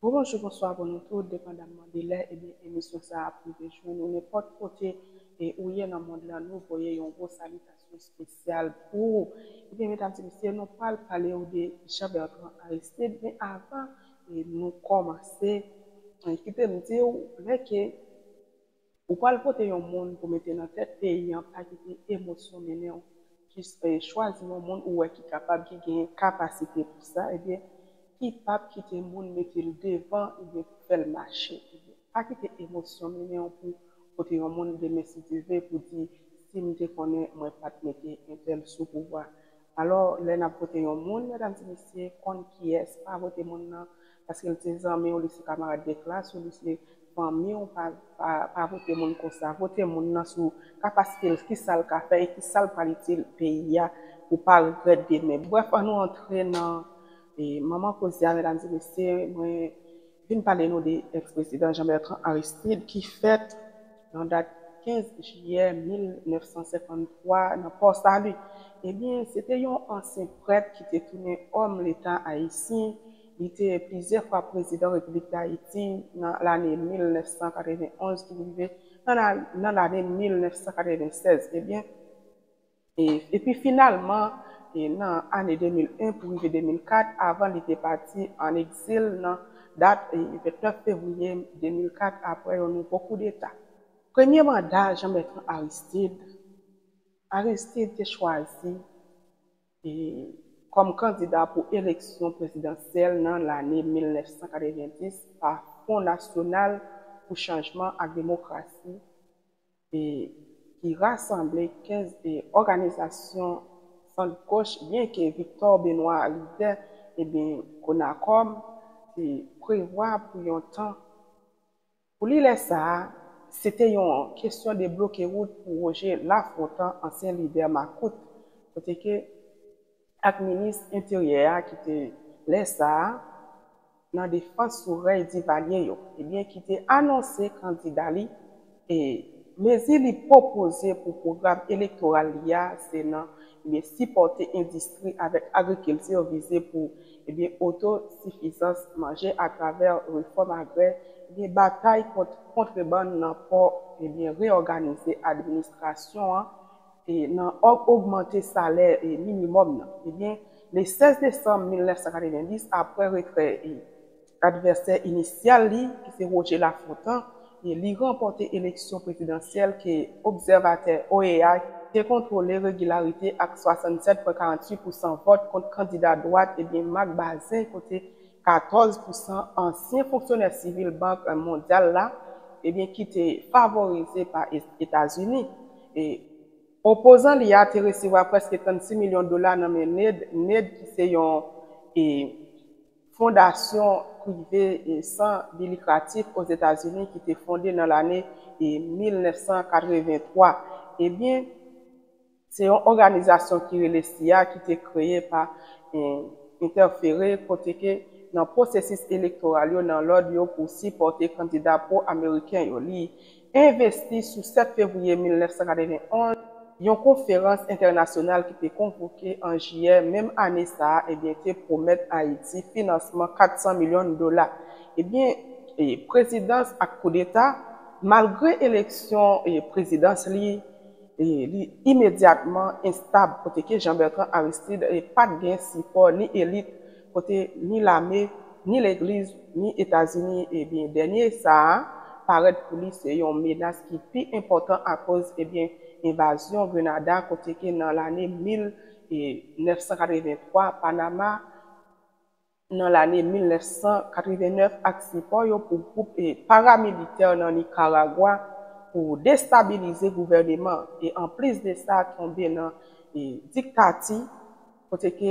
Bon bonjou bonswa pou nou tout depandamman de lè ebyen emisyon sa ap rive jwenn ou nenpòt kote e ou ye nan mond lan nou voye yon gwo salitasyon spesyal pou ou ebyen medam ti mesye nou pral palew de Jean Bertrand Aristide men avan nou kòmanse kite m diw lè ke Ou pwal vote yon moun pou mete nan tèt peyi an pa kite emosyon mennen w jis chwazi yon moun ou wè ki kapab ki genyen kapasite pou sa ebyen ki pap kite moun mete l devan ebyen pou fè l mache ebyen pa kite emosyon mennen w pou vote yon moun demen si Dye ve pou di si m te konnen mwen pat mete entèl sou pouvwa alò lè nap vote yon moun medam ti mesye konn kiyès pa vote moun nan paske li se zanmi w, li se kamarad de klas ou, li se fanmi w, pa vote moun konsa. Vote moun nan sou kapasite l, ki sa l ka fè e ki sa l pral itil peyi a pou w pa regrèt demen. Brèf, an nou antre nan manman koze a, medam e mesye, mwen vin pale nou de ex prezidan Jean Bertrand Aristide ki fèt nan dat 15 jiyè 1953 nan Port Salut. Ebyen, se te yon ansyen prèt ki te tounen òm leta ayisyen. Li te plizyè fwa prezidan Repiblik Dayiti nan lane 1991 pou rive nan lane 1996 ebyen epi finalman nan ane 2001 pou rive 2004 avan li te pati an egzil nan dat 29 fevriye 2004 aprè yon nouvo koudeta. Premye manda Jean-Bertrand Aristide Aristide te chwazi kòm kandida pou eleksyon prezidansyèl nan lane 1990 pa Fon Nasyonal pou Chanjman ak Demokrasi ki rasanble 15 òganizasyon sant goch byenke Victor Benoît lidè Conacom te prevwa pou yon tan Pou li lè sa a, se te yon kesyon debloke wout pou Roger Lafontant, ansyen lidè makout, kote ke ak minis enteryè a ki te lè sa a nan defans sou rèy Divalye yo, ebyen ki te anonse kandida li e mezi li pwopoze pou pwogram elektoral li a se nan ebyen sipòte endistri avèk agrikilti vize pou ebyen oto sifizans manje atravè refòm agrè ebyen batay kont kontrebann nan pò ebyen reyòganize administrasyon an e nan ogmante salè e minimòm nan ebyen le 16 desanm 1990 aprè retrè e. Advèsè inisyal li, ki se Roger Lafontant, li ranpòte eleksyon prezidansyèl ke obsèvatè OEA, te kontwole regilarite ak 67,48 pousan vòt kont kandida dwat ebyen Marc Bazin kote 14 pousan ansyen fonksyonè sivil Bank Mondyal la ebyen ki te favorize pa Etazini e Opozan li a te resevwa prèske 36 milyon dola nan men Ned, Ned ki se yon e. Fondasyon prive san bi likratif Ozetazini ki te fonde nan lane 1983. Ebyen, se yon òganizasyon ki rele cia ki te kreye pa entèfere kote ke nan pwosesis elektoral yo nan lòd yo pou sipòte kandida pwo-ameriken yo. Li envesti sou 7 fevriye 1991, yon konferans entènasyonal ki te konvoke an jiyè menm ane sa a ebyen te pwomèt Ayiti finansman 400 milyon dola. Ebyen prezidans ak koudeta, malgre eleksyon prezidans li li imedyatman enstab koteke Jean Bertrand Aristide pat gen sipò ni elit kote ni lame, ni legliz, ni Etazini ebyen dènye sa a parèt pou li se yon menas ki pi enpòtan akoz ebyen envazyon Grenada kote ke nan lane 1983 Panama nan lane 1989 ak sipò yo pou gwoup paramilitè nan Nikaragwa pou destabilize gouvèneman e anplis de sa tonbe nan diktati kote ki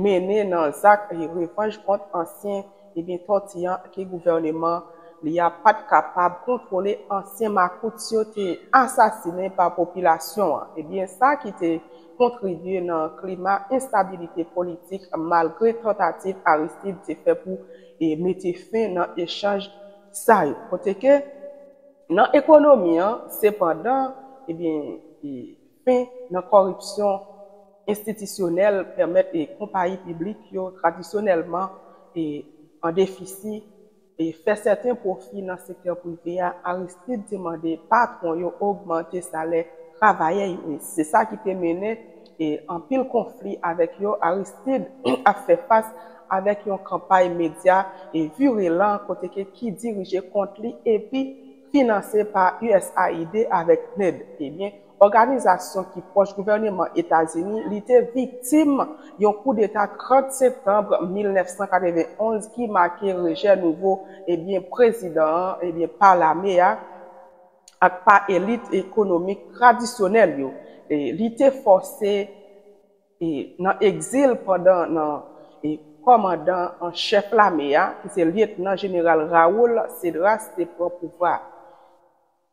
mennen nan zak revanj kont ansyen ebyen tòti an ke gouvèneman li a pa t kapab kontwole ansyen makout yo te asasinen pa popilasyon an ebyen sa ki te kontribye nan klima enstabilite politik malgre tantativ Aristide te fè pou mete fen nan echanj sa yo kote ke nan ekonomi an sepandan ebyen Fen nan kòripsyon enstitisyonèl pèmèt konpayi piblik yo tradisyonèlman an defisi fè sèten pwofi nan sektè prive a, Aristide te mande patwon yo ogmante salè travayè yo e se sa ki te mennen anpil konfli avèk yo. Aristide ap fè fas avèk yon kanpay medya virelan kote ki dirije kont li epi. finanse pa usaid avèk PNUD, ebyen, òganizasyon ki pwòch gouvèneman Etazini, li te viktim yon koudeta 30 septanb 1991 ki make rejè nouvo, ebyen, prezidan an, ebyen, pa lame a ak pa elit ekonomik tradisyonèl yo. Li te fòse. E nan egzil pandan nan e kòmandan an chèf lame a ki se lyetnan jeneral Raúl Cedras te pran pouvwa a.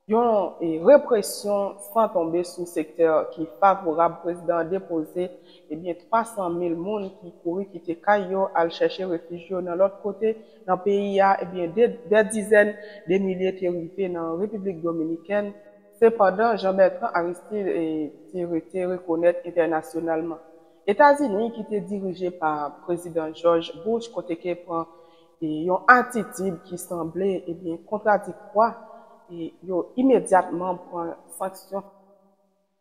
Yon e represyon san tonbe sou sektè ki favorab prezidan an depoze ebyen 300 mil moun ki kouri kite kay yo al chèche refij yo nan lòt kote nan peyi a ebyen de dè dizèn de milye te rive nan Repiblik Dominikèn Sepandan, Jean Bertrand Aristide te rete rekonèt entènasyonalman. Etazini ki te dirije pa Prezidan George Bush koteke pran yon atitid ki sanble kontradiktwa, yo imedyatman pran sanksyon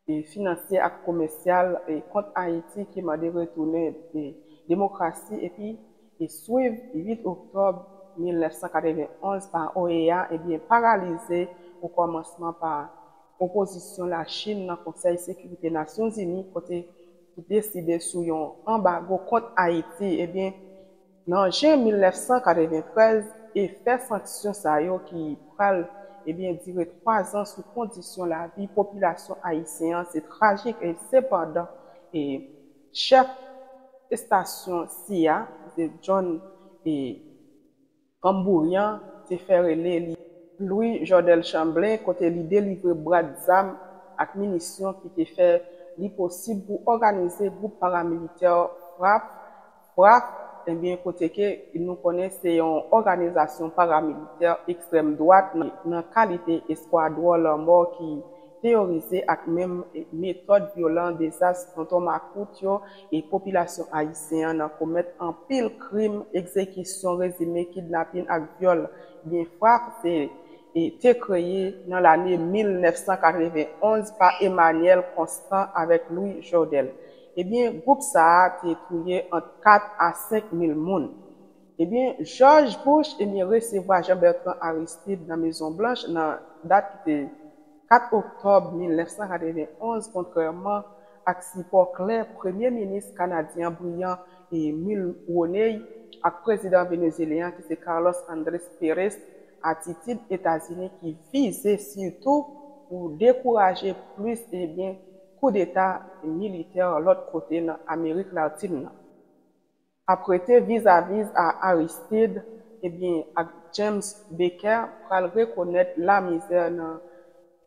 finansyè ak komèsyal kont Ayiti ki mande retounen demokrasi epi ki swiv 8 oktòb 1991 pa OEA ebyen paralize okòmansman pa opozisyon Lachin nan Konsèy Sekirite Nasyonzini kote ki deside sou yon anbago kont Ayiti ebyen nan jen 1993 efè sanksyon sa yo ki pral ebyen dire 3 zan sou kondisyon lavi popilasyon ayisyen an se trajik e sepandan e Chèf estasyon cia, ki se John Gambourrian, te fè rele li. Louis Jordel Chamblin kote li delivre brad zam ak minisyon ki te fè li posib pou òganize gwoup paramilitè fraph, fraph, ebyen kote ke nou konnen se yon òganizasyon paramilitè ekstrèm dwat nan kalite eskwadwon lanmò ki teyorize ak menm metòd vyolan dezas tonton makout yo e popilasyon ayisyen an nan komèt anpil krim, egzekisyon rezime, kidnapin ak vyòl byen frap se te kreye nan lane 1991 pa Emanyèl Konstan avèk Lwi Jodèl. Ebyen gwoup sa a te touye ant 4 a 5 mil moun. Ebyen, Jòj Bush, ebyen, resevwa Jean Bertrand Aristide nan Mezon Blanch nan dat ki te 4 oktòb 1991 kontrèman ak sipò klè premye minis kanadyen an briyan Mulroney ak prezidan venezyelyen an ki se Carlos Andres Perez atitid Etazini ki vize sitou pou dekouraje plis ebyen koudeta militè lòt kote nan Amerik Latin nan. ap rete vizaviz a Aristid ebyen ak James Baker pral rekonèt lamizè nan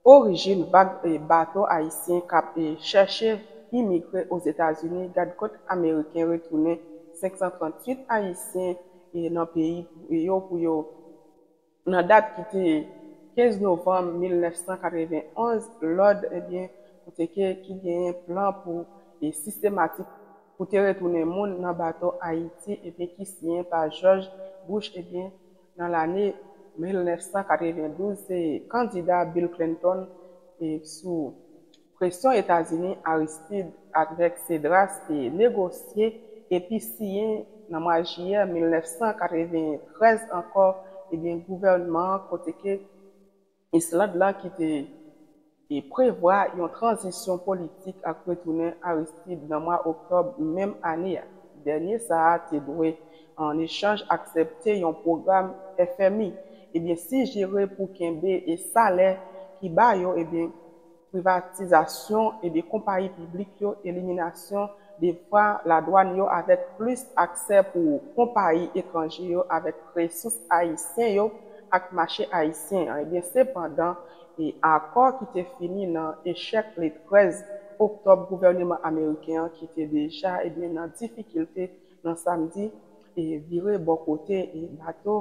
orijin vag bato ayisyen kap chèche imigre Ozetazini gad kot ameriken retounen 538 ayisyen nan peyi yo pou yo Nan dat ki te 15 novanm 1991, lòd ebyen kote ke ki genyen plan pou e sistematik pou te retounen moun nan bato Ayiti ebyen ki siyen pa Jòj Bouch ebyen nan lane 1992 se kandida Bill Clinton e sou Presyon Etazini, Aristid ak Rèk Sedras te negosye epi siyen nan mwa jiyè 1993 ankò ebyen gouvènman an kote ke Island la ki te prevwa yon tranzisyon politik ak retounen Aristid nan mwa oktòb menm ane a. Dènye sa a te dwe an echanj aksepte yon pwogram FMI ebyen sijere pou kenbe salè ki ba yo ebyen. privatizasyon e de konpayi piblik yo, eliminasyon de fra ladwann yo avèk plis aksè pou konpayi etranje yo avèk resous ayisyen yo ak mache ayisyen an. Ebyen sepandan e akò ki te fini nan echèk le 13 oktòb gouvèneman ameriken an ki te deja ebyen nan difikilte nan samdi e vire bò kote bato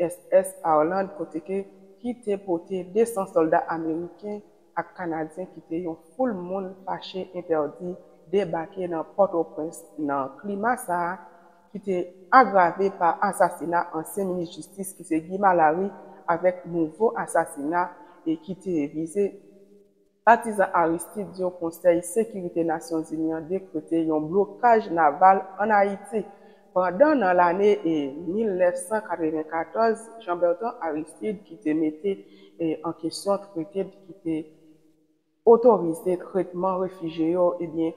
uss Harland kote ke ki te pote 200 sòlda ameriken ak kanadyen kite yon foul moun fache entèdi debake nan Pòtoprens nan klima sa ki te agrave pa asasina ansyen minis jistis ki se Guy Malary avèk nouvo asasina e ki te vize Patizan Aristide di yo Konsèy Sekirite Nasyonzini an dekrete yon blokaj naval ann Ayiti, pandan nan lane 1994 Jean Bertrand Aristide ki te mete an kesyon trete ki te otorize tretman refijye yo ebyen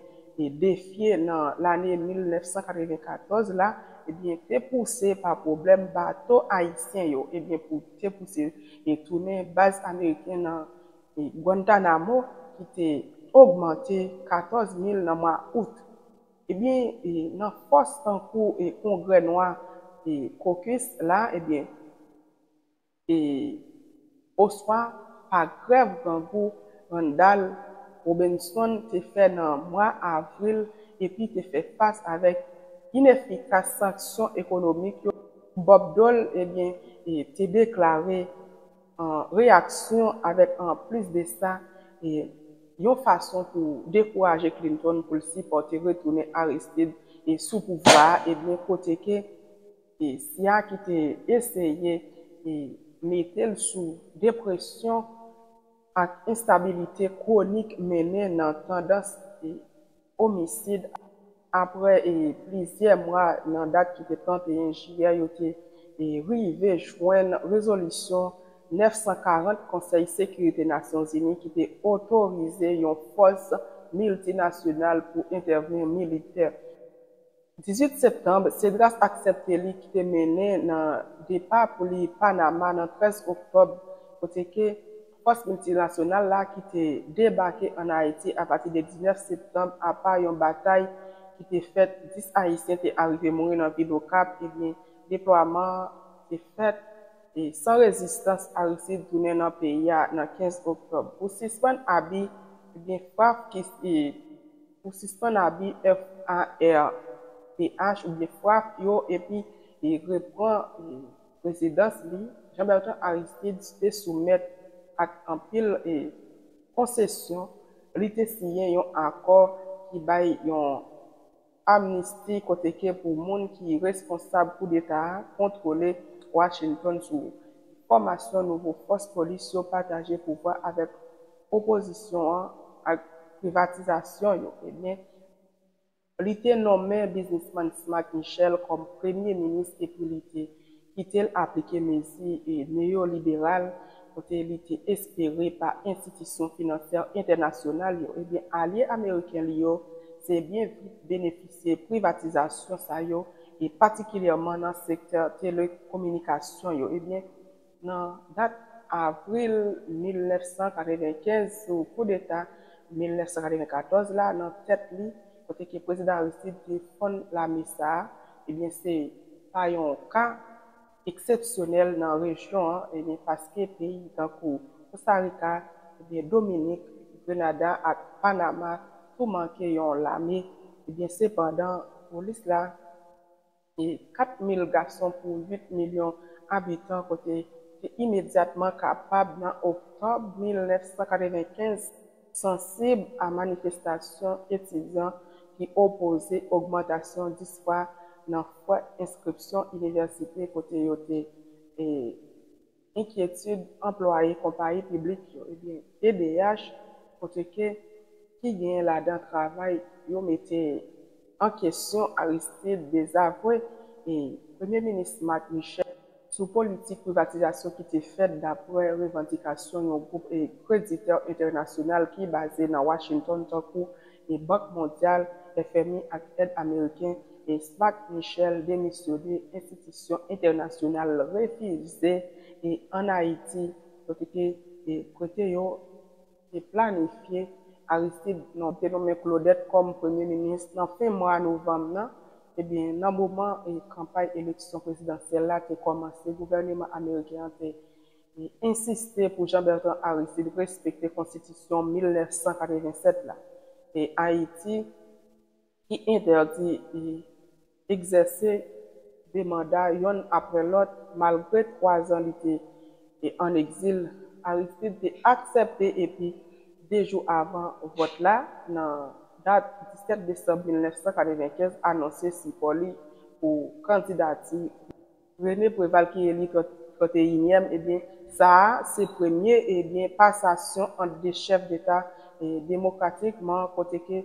defye nan lane 1994 la ebyen te pouse pa pwoblèm bato ayisyen yo ebyen pou te pouse tounen baz ameriken nan e Guantanamo ki te ogmante 14 mil nan mwa Out. Ebyen e nan fòs tankou e kongrè nwa e caucus la ebyen e oswa pa grèv grangou Randall Robinson te fè nan mwa Avril epi te fè fas avèk inefikas sanksyon ekonomik yo, Bob Dole ebyen e te deklare. reyaksyon avèk an plis de sa yon fason pou dekouraje Clinton pou l sipòte retounen Aristide sou pouvwa a ebyen kote ke cia ki te eseye mete l sou depresyon ak enstabilite kwonik mennen nan tandans omisid aprè plizyè mwa nan dat ki te 31 jiyè yo te rive jwenn rezolisyon 940 Konsèy Sekirite Nasyonzini ki te otorize yon fòs miltinasyonal pou entèvni militè. 18 septanb, Cedras aksepte li ki te mennen nan depa pou li Panama nan 13 oktòb kote ke fòs miltinasyonal la ki te debake an Ayiti apati de 19 septanb apa yon batay ki te fèt 10 ayisyen te arive mouri nan vil Okap ebyen deplwaman an te fèt san rezistans Aristide tounen nan peyi a nan 15 oktòb pou sispann abi ebyen frap ki pou sispann abi FARPH oubyen frap yo epi repran prezidans li, Jean Bertrand Aristide te soumèt ak anpil konsesyon, li te siyen yon akò ki bay yon amnisti kote ke pou moun ki responsab koudeta a kontwole Washington sou fòmasyon nouvo fòs polis yo pataje pouvwa avèk opozisyon an ak privatizasyon yo ebyen li te nonmen biznisman Smack Michel kòm premye minis epi li te kite l aplike mezi neyoliberal kote li te espere pa enstitisyon finansyè entènasyonal yo ebyen alye ameriken li yo te byen vit benefisye privatizasyon sa yo e patikilyèman nan sektè telekominikasyon yo ebyen Nan dat avril 1995 sou koudeta 1994 la nan tèt li kote ke Prezidan Aristide te fonn lame sa a, ebyen se pa yon ka eksepsyonèl nan rejyon an ebyen paske peyi tankou Kostarika, ebyen Dominik, Grenada ak Panama tou manke yon lame ebyen sepandan polis la. e 4 mil gason pou 8 milyon abitan kote te imedyatman kapab nan oktòb 1995, sansib a manifestasyon etidyan ki opoze ogmantasyon 10 fwa nan fwè enskripsyon inivèsite kote yo te e. enkyetid anplwaye konpayi piblik yo, ebyen pdh kote ke ki genyen ladan travay yo mete an kesyon Aristide dezavwe e Premye Minis Marc Michel, sou politik privatizasyon ki te fèt dapre revandikasyon yon gwoup kreditè entènasyonal ki baze nan Washington tankou e Bank Mondyal, FMI, ak èd Ameriken, e Svat Michel demisyone enstitisyon entènasyonal l refize e ann Ayiti kote ke e kote yo te planifye Aristid non te nonmen Klodèt kòm Premye Minis nan fen mwa novanm nan ebyen nan moman e kanpay eleksyon prezidansyèl la te kòmanse gouvèneman Ameriken an te Li ensiste pou Jean Bertrand Aristide respekte konstitisyon 1987 la e Ayiti ki entèdi li egzèse 2 manda yonn aprè lòt malgre 3 zan li te an egzil, Aristide te aksèpte epi 2 jou avan vòt la nan dat 17 desanm 1995 anonse sipò li pou kandidati. Rene Preval ki eli tranteyinyèm ebyen sa a se premye ebyen pasasyon ant 2 chèf deta demokratikman kote ke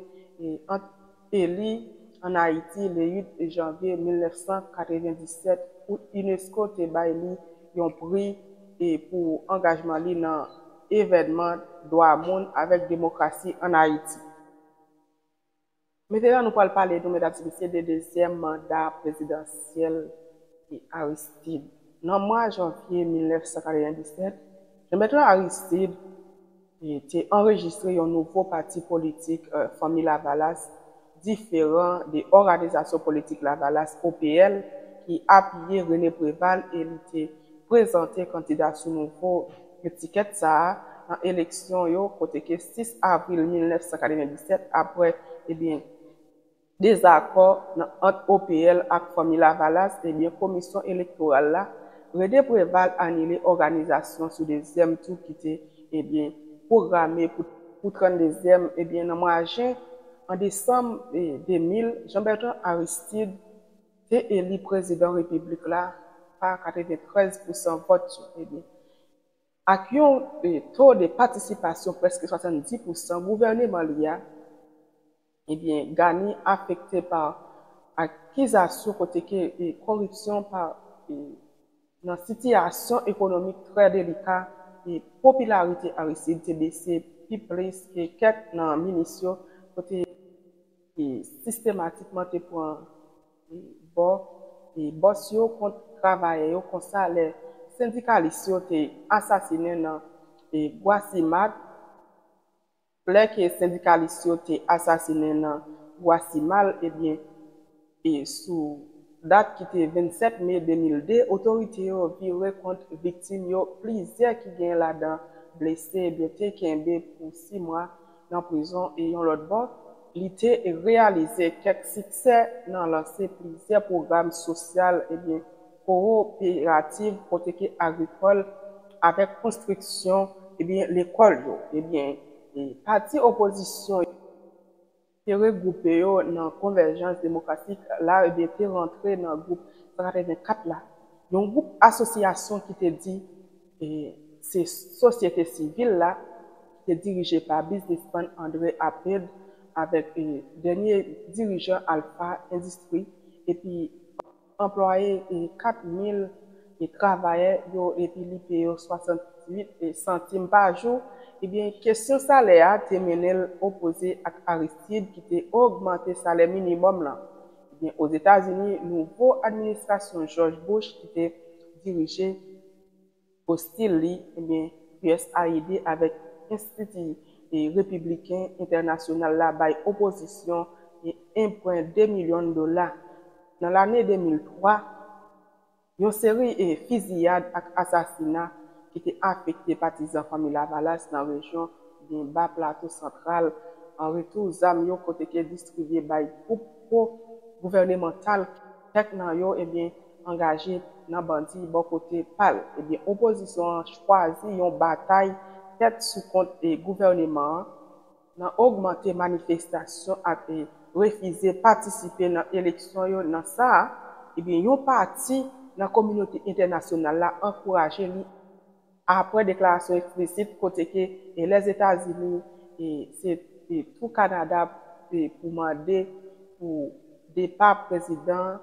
ant eli an Ayiti le 8 janvye 1997 ou unesco te bay li yon pri pou angajman li nan evènman dwa moun avèk demokrasi an Ayiti. Mete la nou pral pale nou medam se mesye de dezyèm manda prezidansyèl Jan Aristide. Nan mwa janvye 1997, Jan-Bètran Aristid te anrejistre yon nouvo pati politik Fanmi Lavalas diferan de Òganizasyon Politik Lavalas, OPL, ki apiye Rene Preval e li te prezante kandida sou nouvo etikèt sa a nan eleksyon yo kote ke 6 avril 1997 apre ebyen dezakò nan ant OPL ak Fanmi Lavalas ebyen komisyon elektoral la Rene Preval anile òganizasyon sou dezyèm tou ki te ebyen pwograme pou pou 32 zyèm ebyen nan mwa jen an desanm 2000 Jean Bertrand Aristide te eli prezidan repiblik la pa 93 pousan vòt yo, ebyen ak yon to de patisipasyon prèske 70 pousan, gouvèneman li a, ebyen Ghani afekte pa akizasyon kote ke koripsyon pa nan sitiyasyon ekonomik trè delika, popilarite Aristide te bese pi plis ke kèk nan minis yo, kote. sistematikman te pran bò bòs yo kont travayè yo konsa lè sendikalis yo te asasinen nan Gwasimak lè ke sendikalis yo te asasinen nan Gwasimal ebyen sou dat ki te 27 me 2002 otorite yo vire kont viktim yo plizyè ki gen ladan blese ebyen te kenbe pou 6 mwa nan prizon e yon lòt bò, li te reyalize kèk siksè nan lanse plizyè pwogram sosyal ebyen kowoperativ kote ke agrikòl avèk konstriksyon ebyen lekòl yo ebyen pati opozisyon te regwoupe yo nan Konvèjans Demokratik la ebyen te rantre nan gwoup 184 la yon gwoup asosyasyon ki te di E se sosyete sivil la ki te dirije pa biznisman André Abed avèk dènye dirijan Alpha Industrie epi anplwaye 4 mil travayè yo epi li peye yo 68 santim pa jou, ebyen kesyon salè a te mennen l opoze ak Aristide ki te ogmante salè minimòm lan. Ebyen Ozetazini, nouvo administrasyon George Bush ki te dirije. ostil li, ebyen usaid avèk enstiti repibliken entènasyonal la bay opozisyon enpren 2 milyon dola. Nan lane 2003, yon seri fiziyad ak asasina ki te afekte patizan Fanmi Lavalas nan rejyon byen ba Plato Santral an retou zam yo kote ke distribye bay gwoup pwo gouvènemantal Kèk nan yo ebyen angaje nan bandi bò kote pa l. Ebyen opozisyon an chwazi yon batay tèt sou kont gouvèneman an nan ogmante manifestasyon ak refize patisipe nan eleksyon yo nan sa ebyen yon pati nan kominote entènasyonal la ankouraje li. Apre deklarasyon eksplisit kote ke Lèzetazini e se e tou Kanada e pou mande pou depa prezidan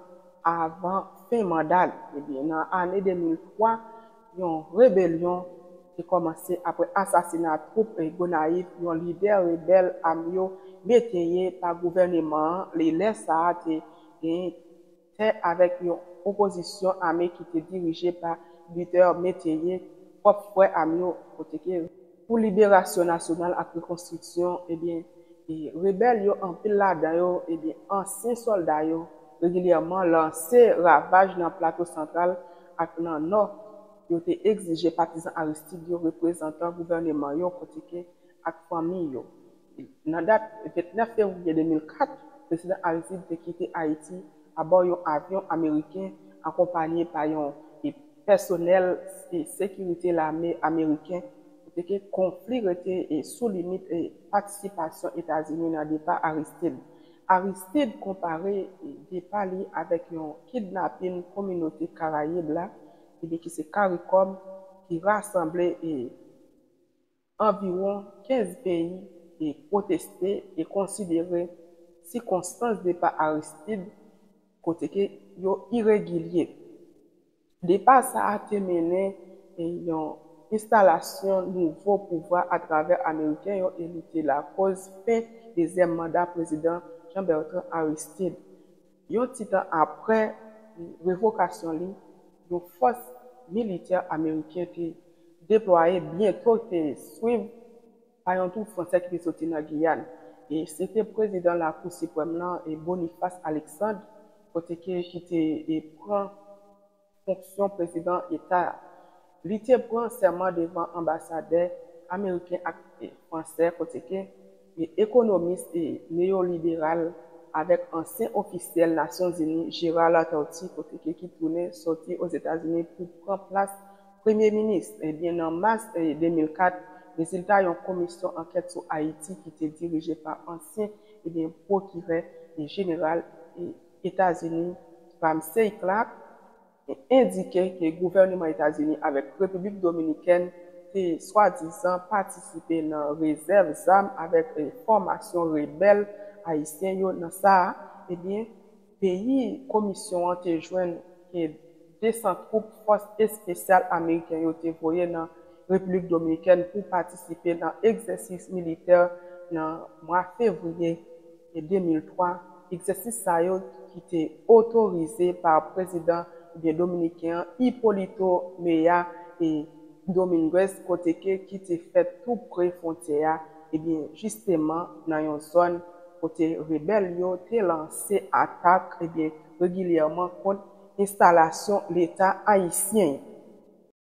avan fen manda li. Ebyen nan ane 2003, yon rebelyon te kòmanse apre asasina twoup e Gonayiv yon lidè rebèl am yo mete ye pa gouvèneman an li lè sa a te gen tè avèk yon opozisyon ame ki te dirije pa Luther Métayer, pwòp frè a m yo pwotege. Pou liberasyon nasyonal ak rekonstriksyon, ebyen, rebèl yo, anpil ladan yo, ebyen, ansyen sòlda yo, regilyèman lanse ravaj nan Plato Santral ak nan Nò. Yo te egzije patizan Aristide yo, reprezantan gouvèneman yo pwotege, ak fanmi yo. Nan dat 29 fevriye 2004, Prezidan Aristide te kite Ayiti abò yon avyon ameriken akonpanye pa yon pèsonèl sekirite lame ameriken koteke konfli rete sou limit patisipasyon Etazini nan depa Aristide. Aristide konpare depa li avèk yon kidnapin kominote Karayib la ki se caricom ki rasanble. Anviwon 15 peyi te pwoteste e konsidere sikonstans depa Aristide kote ke yo iregilye. Depa sa a te mennen yon enstalasyon nouvo pouvwa atravè Ameriken yo e li te lakoz fen dezyèm manda Prezidan Jean-Bertrand Aristide. Yon ti tan apre revokasyon li, yon fòs militè ameriken te deplwaye byento te swiv pa yon twoup fransè ki te soti nan Giyàn. E se te prezidan Lakou Siprèm lan, Boniface Alexandre, kote ke ki te pran. fonksyon prezidan eta a. Li te pran sèman devan anbasadè ameriken ak fransè koteke ekonomis neyoliberal avèk ansyen ofisyèl Nasyonzini Gérard Latortue koteke ki tounen sòti Ozetazini pou pran plas premye minis ebyen nan mas 2004 rezilta yon komisyon ankèt sou Ayiti ki te dirije pa ansyen ebyen pwokirè jeneral Etazini, Ramsey Clark, te endike ke gouvèneman Etazini avèk Repiblik Dominikèn te swadizan patisipe nan rezèv zam avèk fòmasyon rebèl ayisyen yo nan sa a, ebyen peyi komisyon an te jwenn ke 200 twoup fòs espesyal ameriken yo te voye nan Repiblik Dominikèn pou patisipe nan egzèsis militè nan mwa fevriye 2003, egzèsis sa yo ki te otorize pa prezidan oubyen dominiken an Hipolito Mea e Dominguez kote ke ki te fèt tou pre fwontyè a ebyen jisteman nan yon zòn kote rebèl yo te lanse atak ebyen regilyèman kont enstalasyon Leta ayisyen.